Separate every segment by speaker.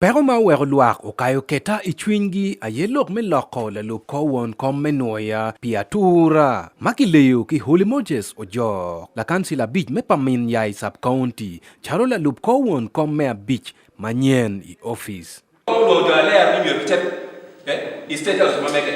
Speaker 1: Peko ma oweko lwak okayo keta i cwinygi aye lok me loko lalub kor won kom me nwoya pi atura ma kileyo ki Holy Moses Ojok, lakancil abic me pa Min Yai Sub County, calo lalub kor won kom me abic manyen i opic. Kor won kom oloyo jo alea
Speaker 2: ni myero gicit i State House ma mege.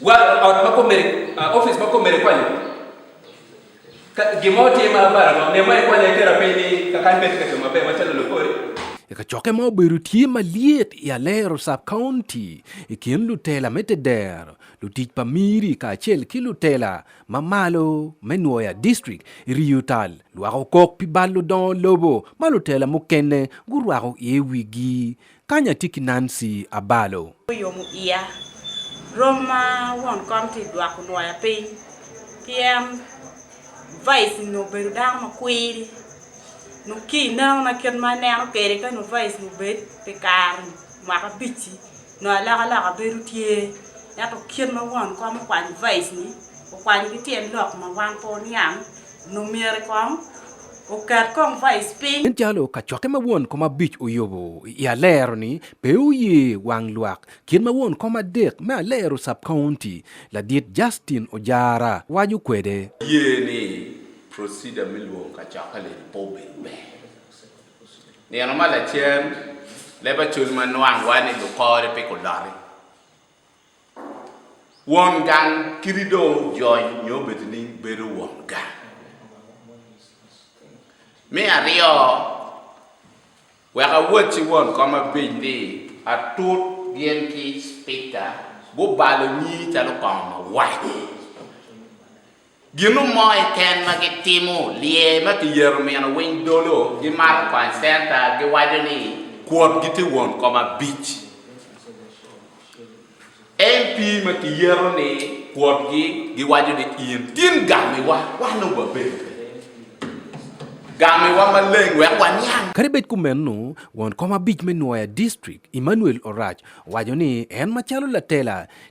Speaker 2: Gwaro ot ma kome, ofice ma kome ikonyo. Ka gin mo tye ma abara ma onema ikonyo iketo apiny ni kakany pe tye ka coo maber macalo lokori. I kacokke ma
Speaker 1: obedo tye malyet i Alero Sub County i kin lutela me tedero, lutic pa miri kacel ki lutela ma malo me Nwoya District iriyo tal lwak okok pi bal ludongo lobo ma lutela mukene gurwako iye wigi Kany atye ki Nancy abalo. Guyomo iya.
Speaker 3: Rom ma won kom tye dwako nwoya piny ki en vice ni obedo dano ma kwiri nyo ki ineno na kit ma aneno kwede ka nyo vice ni obed pi kare ni mwaka abic ci nyo alok aloka bedo tye ento kit ma won kom okwanyo vice ni okwanyo ki tyen lok ma wan pe oniang nongo myero kong oket kong vice piny. Nen calo kacokke ma
Speaker 1: won kom abic oyubo i alero-ni pe oye wang lwak, kit ma won kom adek me alero Sub-County, Ladit Justin Ojara, waco kwede. Aye ni
Speaker 2: procedure me lwongo kacokke-ni pe obedo ber. Nino ma lacen, leb acol ma nwang wa ni lukore pe guloti. Won gang kadi dong ojony nyo obedo ni bedo won gang. Me aryo, wek awot ci won kom apenj ni, Atut gin ki Cipika gubalo nyi calo kong mawaco? Gino mo keken ma gitimo, Lyer ma kiyero mino winy dolo gimato kwany centa giwaco ni kwot gitye won kom abic. MP ma kiyero ni kwot gi giwaco ni in tin gamiwa wan dong wabedo kwede. Gamiwa maleng wek waniang. Kadi bed kumeno,
Speaker 1: won kom abic me Nwoya District, Emmanuel Orac owaco ni en macalo latela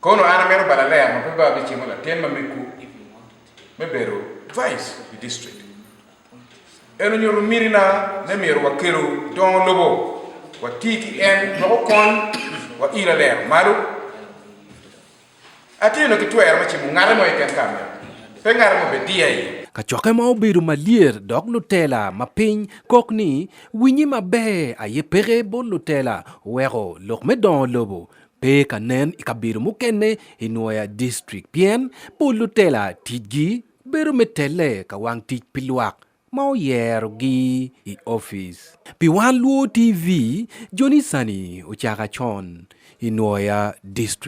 Speaker 4: Kono an amito balo aler ma pe ba abicimo latin ma megu me bedo vice i district. En onyuto mitina ne myero wakelo dongo lobo wati ki en wek okony wa ilo alero malo. Atye nongo ki twero me cimo ngate mo keken ka amito, pe ngate mo bediya iye. Kacokke ma obedo
Speaker 1: malyet dok lutela ma piny kok ni Winyi maber aye peke bot lutela weko lok me dongo lobo pe ka nen i kabedo mukene i Nwoya District pien pol lutela ticgi bedo me telle ka wang tic pi lwak ma oyerogi i opic. Pi wan luo TV, Johnny Sani ocako acon i Nwoya District.